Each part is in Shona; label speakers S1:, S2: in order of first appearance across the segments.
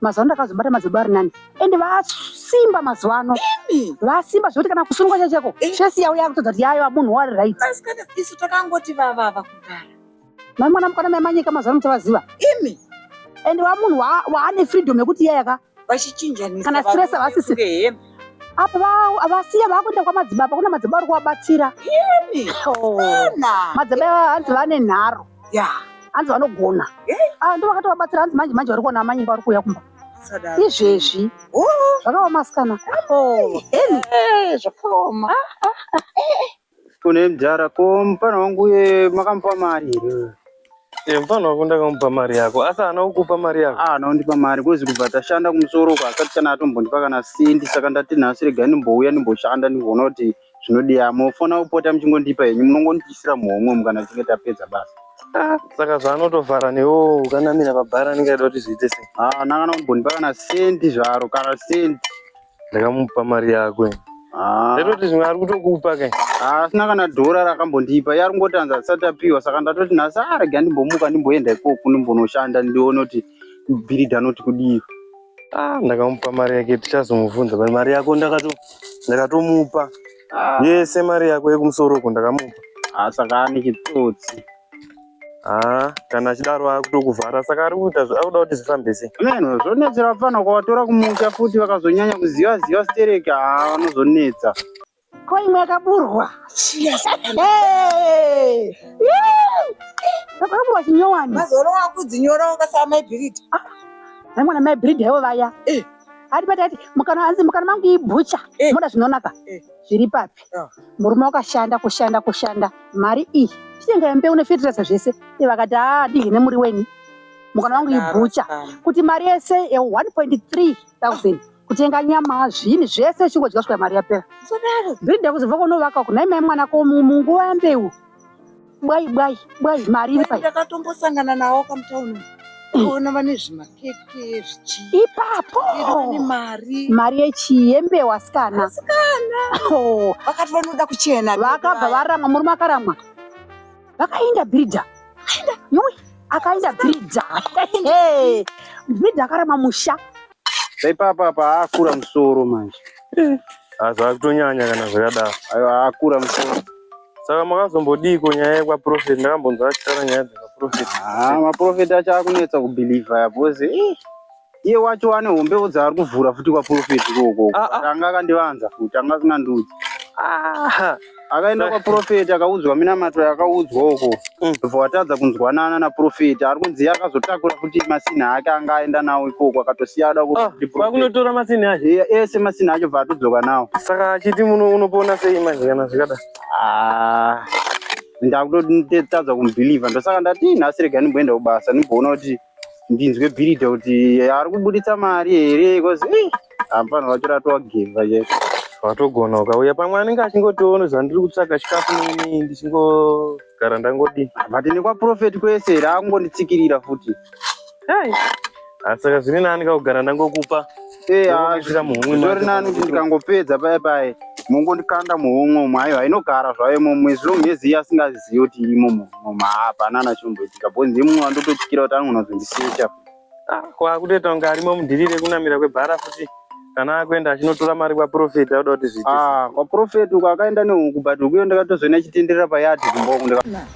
S1: mazuva ano ndakazobata madzibaba ari nani ende vasimba mazuva ano vasimba zvekuti kana kusungwa chacheko chesi yavo yakutodza kuti yayo munhu wari right isu takangoti
S2: vavava kugara mai mwana
S1: mukana mai manyika mazuva ano muchavaziva imi ende vamunhu waane freedom yekuti iyayaka vachichinjanisa kana
S2: stress avasisi
S1: apo vasiya vakuenda kwamadzibaba kuna madzibaba ari kuvabatsira oh. madzibaba hanzi vane nharo ya hanzi vanogona ah, ndo vakatovabatsira hanzi manje manje vari kuona amanyimba vari kuuya kumba izvezvi oh. zvakaoma asikana oh. eh,
S2: zvakaoma ah,
S3: ah, eh. kune mdhara ko mupana wangu uye makamupa mari here Eh, mfana wako ndakamupa
S4: mari yako asi haana kukupa mari yako ah, anondipa mari kozi
S3: kubva tashanda kumusoro uko asati kana atombondipa kana sendi saka ndati nhasi regai ndimbouya ndimboshanda ndigoona kuti zvinodiya mofona kupota muchingondipa henyu munongondiisira muhomwe umu kana tichinge tapedza basa Ah, saka
S4: zvaanotovhara newo ukanamira pabhara anenge aida kuti zviite sei Ah, nangana kumbondipa kana
S3: sendi zvaro kana sendi ndakamupa
S4: mari yako Ah, ndaitoti zvimwe ari kutokupa ke ah, asina kana dhora
S3: rakambondipa iye ari kungotanza asati apiwa saka ndatoti nhasi arega ndimbomuka ndimboenda ikoko ndimbonoshanda ndione kuti bhiridha anoti kudii ah ndakamupa
S4: mari yake tichazomubvunza but mari yako ndakato ndakatomupa ah. yese mari yako yekumusoro uko ndakamupa ah saka ane
S3: chitsotsi ah
S4: kana achidaro akutokuvhara saka ari kuita akuda kuti zvifambe sei menhu zvonetsera
S3: pano kwawatora kumusha futi vakazonyanya kuziva ziva stereki ah vanozonetsa ko
S1: imwe yakaburwa akaburwa chinyowani mazuva ano wakudzinyora
S2: ungasava maibhiridi ah, aimwana
S1: maibhiridi haivo vaya eh. ari pati ati mukana anzi mukana mangu ibhucha eh. moda zvinonaka zviri papi ah. murume wakashanda kushanda kushanda mari iyi chitenga yambe une fetirasa zvese vakati aa ah, dihine muri weni mukana wangu ibhucha kuti mari yese ye 1.3 thousand kutenga nyama zvinhu zvese uchingodya svika mari yapera brinda kuzobva kunovaka kunai mai mwana ko munguva yambeu bwai bwai bwai mari iri pai ndakatombosangana nawo
S2: kamutauni ona vane zvimakeke zvichii ipapo
S1: mari mari
S2: yechii yembeu
S1: asikana asikana oh.
S2: vakati vanoda kuchena vakabva varamwa murume
S1: akaramwa vakaenda bridha akaenda bridha bridha akarama musha Paipapa apa
S3: akura musoro manje. Azva
S4: kutonyanya kana zvakadaro. Ayo akura
S3: musoro. Saka
S4: makazombodii ko nyaya yekwa prophet ndakambonzwa achitaura nyaya dzekwa prophet. Ah, ma prophet
S3: acho akunetsa ku believer because eh iye wacho ane hombewo dzaari kuvhura futi kwa prophet ikoko. Ah, ah. Anga akandivanza futi anga asina ndudzi. Ah. akaenda kwaprofeti akaudzwa minamato yakaudzwa uko mm. ndobva watadza kunzwanana naprofeti ari kunzi iye akazotakura kuti masinhi ake anga aenda nawo ikoko akatosiya ada kuakunotora ah, masinhi acho
S4: ese masinhi acho bva
S3: atodzoka nawo saka achiti muno
S4: unopona sei manje kana zvikada ah,
S3: ndakutotadza kumubhilivha ndosaka ndati nhasi rega ndimboenda kubasa ndimboona kuti ndinzwe bhiridha kuti ari kubuditsa mari here bcause hapana vacho ratowageva che watogona ukauya
S4: pamwe anenge achingotiona zvandiri kutsvaga chikafu nini ndichingogara ndangodi but nekwaprofet
S3: kwese raakungonditsikirira futi asi saka
S4: zvine nani kakugara ndangokupa Eh, ah,
S3: zvori nani kuti ndikangopedza paye paye mongondikanda muhomwe umo aiwa inogara zvayo mo mwezi long as iye asingazivi kuti imo moma hapana nachomboitika bho ndiye mumwe wandototyira kuti anonozondisecha ah, kwakutoita
S4: kunge arimo mudirire kunamira kwebhara futi kana akuenda achinotora mari kwaprofeti auda kuti zviite ah, kwaprofeti uko
S3: akaenda nehuku but ukuyo ndakatozoona chitenderera payadhi kumboku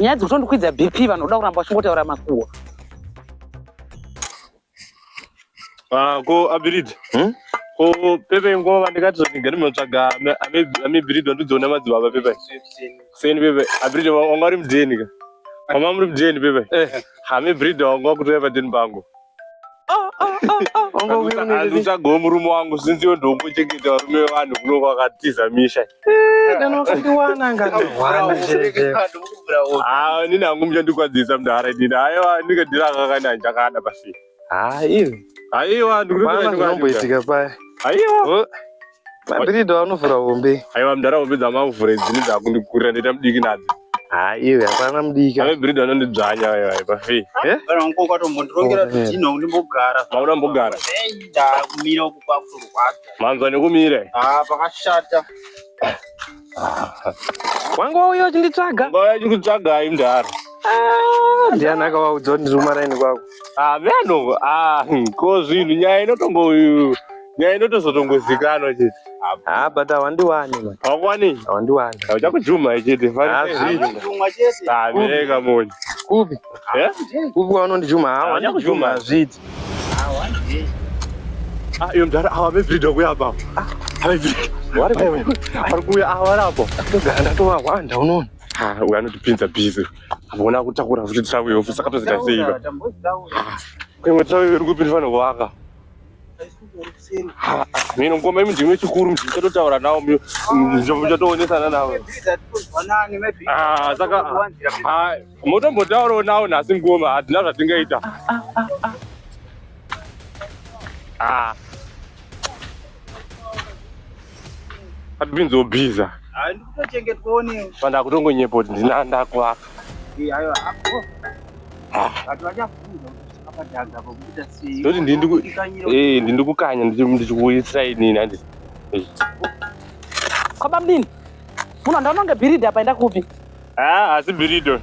S5: nyaya dzekutondikwidza bp vanhu voda kuramba vachingotaura makuhwa
S4: ah, ko abiridi hmm? ko pepe nguva ndikati zvatigari munotsvaga amebiridi wandidziona madzibaba pepe kuseni pepe abiridi wanga uri mudeni ka mama muri mudeni pepe eh. amebiridi wanga wakutoya padeni pangu uchago murume wangu since iwe ndongochengeta varume vevanhu kuno kwakatiza misha nini hangu muchandikwadzisa mdara inini aiwa ndinge ndirakakana ndichakada pasi aiwa aiwa ndikuitika
S5: paya aiwa
S4: Mabhiridha
S5: vanovhura hombe. Aiwa mdara hombe
S4: dzamavhura idzini dzakundikurira ndoita mudiki nadzo. Ha iwe hapana
S5: mudiki. Ave bhiridha vanondidzvanya
S4: vaya vaya pafi. Eh? Kana unko
S3: kwatombotirongera oh, zvidhina undimbogara. Mauna mbogara.
S4: Ndakumira
S3: uku kwakurwadza. Manzwa nekumira.
S4: Ah pakashata.
S5: wanga wauya uchinditsvaga wauya uchinditsvaga ayi
S4: mdhara ah,
S5: ndiani akavaudza kuti ndiri kumaraini kwako ah, veno
S4: ah, hmm, ko zvinhu nyaya inotongo nyaya inotozotongozikanwa chete ha but
S5: hawandiwani hawakuwani hawandiwani
S4: hauchakujuma
S5: chete
S4: hazviika
S3: moni
S4: kupi eh?
S5: kupi waunondijuma hawandichakujuma hazviti
S4: Ah, iyo mdara awa vevrido kuya baba vari kuuya awa rapo ndogara ndatovahwanda
S5: unoona uyo anotipinza
S4: bhizi avona kutakura futi tirawiyo futi saka tozita seiva imwe tirawiyo iri kupi ndifana kuvaka mino ngoma imi ndimwe chikuru mchatotaura nawo mchatoonesa nanawo saka Motombotaurawo nawo nhasi ngoma hadzina zvatingaita. Ah, ah, ah, ah. Atipinzo biza. Hayi ndikuchengetwa
S3: one. Fanda kutongo
S4: nyepo ndina ndakwa. Eh ayo hapo. Ah. Ati vachafunga apa danga pokuita sei. Ndoti ndindi ku eh ndindi kukanya nditi ndichikuisa ini nandi.
S5: Kwa bamdini. Muno ndaononge biridi apa enda kupi? Ah, asi
S4: birido.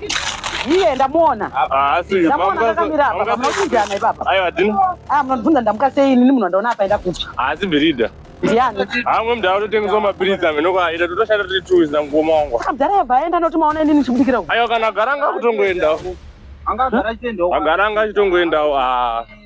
S4: Iye
S5: ndamuona. Ah, asi ndamuona
S4: ndakamira apa
S5: pamwe kunjana ipapa. Aiwa dini. Ah,
S4: munobvunza ndamuka
S5: sei ini munhu ndaona apa enda kupi. Asi birido.
S4: Ndiani? Hamwe
S5: ah, mdara totengeswa
S4: mapiritsi amene kwa ida totoshanda tiri two za ngoma wangu. Ah, mdara yabva aenda noti
S5: maona ini nichibudikira uko. Aiwa kana garanga kutongoenda.
S4: Anga gara chitendawo. Agara anga chitongoendawo. Ah.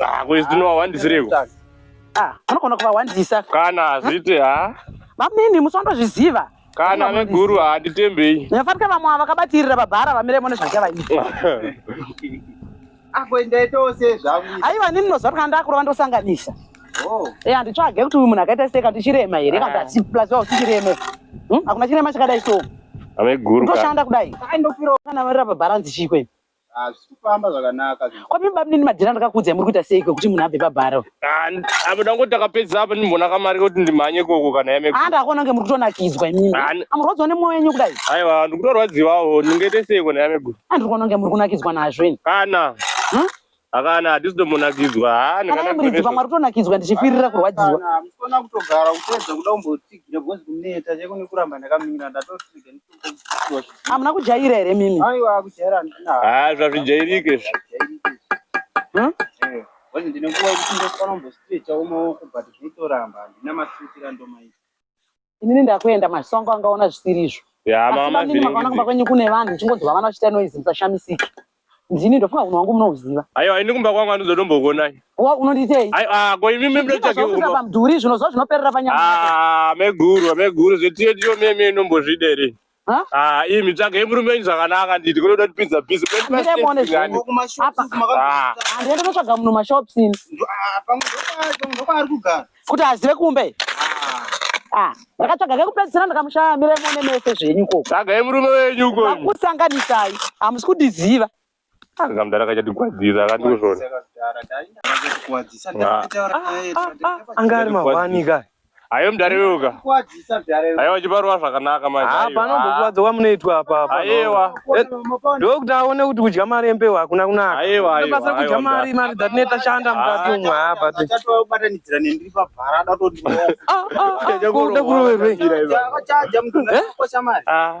S4: Ah, ko izvi ndinohwandisireko. Ah,
S5: anogona kuvahwandisa. Kana hazviti
S4: ha. Mamimi
S5: musondozviziva. Kana veguru
S4: handitembei. Nefanike vamwe
S5: vakabatirira babhara vamire mune zvachavaita. Ako
S3: ndaitawo sezvangu. Aiwa nini ndinoziva kuti
S5: ndakurova ndosanganisa. Oh. Eh, handitsvage kuti uyu munhu akaita sei kati chirema here kati asi plus wa usingireme. Hm? Hakuna chirema chakadai so. Ave guru. Ndoshanda
S4: kudai.
S5: Ndofiro kana varira babharanzi chikweni.
S3: Kwapi bamnini madhira
S5: ndakakuudzai muri kuita seiko kuti munhu abve pabharo. Apa ndangoti
S4: ndakapedza apa ndimona kamari kuti ndimhanye ikoko kana yame. Ah ndakaona kunge muri kutonakidzwa
S5: imimi. Amurwadziwa nemoyo yenyu kudai. Aiwa ndikutorwadziwawo
S4: ndingaite seiko nayame guru. Ah ndikuona kunge muri kunakidzwa
S5: nazvo ini. Kana.
S4: Huh? Akana hatisi tomonakidzwa. Ah ndikana. Muri pamwe
S5: kutonakidzwa ndichifirira kurwadziwa. Kana musona kutogara
S3: kutedza kuda kumbotsigira because kuneta cheko nekuramba ndakamira ndatosiga. hamuna kujaira
S5: here mimi
S3: haa zvazvijairike hmm? inini
S5: ndakuenda masongo angaona zvisiri izvo asi mamini
S4: makaona kumba kwenyu
S5: kune vanhu uchingonzwa vana vachita noizi musashamisike Ndini ndofunga kunhu wangu munoziva. Ayo ayi ndikumba kwangu
S4: anozodonbogonai. Wa unonditei? Ayo
S5: ah ko imi mimi
S4: ndochake kumba. Ndikuza pamduri zvino zvo
S5: zvinoperera panyama. Ah meguru meguru
S4: zvetiyo tiyo mimi inombozvidere. Ha? Ah imi mitsvage murume wenyu zvakanaka nditi kunoda kuti pizza busy. Ndine mone zvino. Apa.
S5: Ah ndinotsvaga munhu mashops ini. Ah
S3: pamwe
S5: ndokwa ndokwa
S3: ari kugara.
S5: kuti azive kumba
S3: iyi
S5: ah, ndakatsvaga kekupedzisira ndakamushaya mire mune mese zvenyu ikoko tsvagai murume wenyu uko
S4: akusanganisai
S5: hamusi kudiziva anga mdara
S4: akachatigwadzira akandikuzvona ah, ah,
S6: anga ari mahwani ka ayo mdara iweuka
S4: Aiwa chibarwa zvakanaka manje. Ah, panombokuwadza kwamunoitwa
S6: apa apa. Aiwa. Eh,
S4: Ndokuti
S6: aone kuti kudya mari yembewu hakuna kunaka. Aiwa aiwa. Basa kudya
S4: mari
S6: mari dzatineta shanda mukati umwe apa. Tatowa kubatanidzira
S3: nendiri pabhara datotiwa. Ah
S6: ah. Kuda kuroverwe. Chaja mtunga kosha mari. Ah.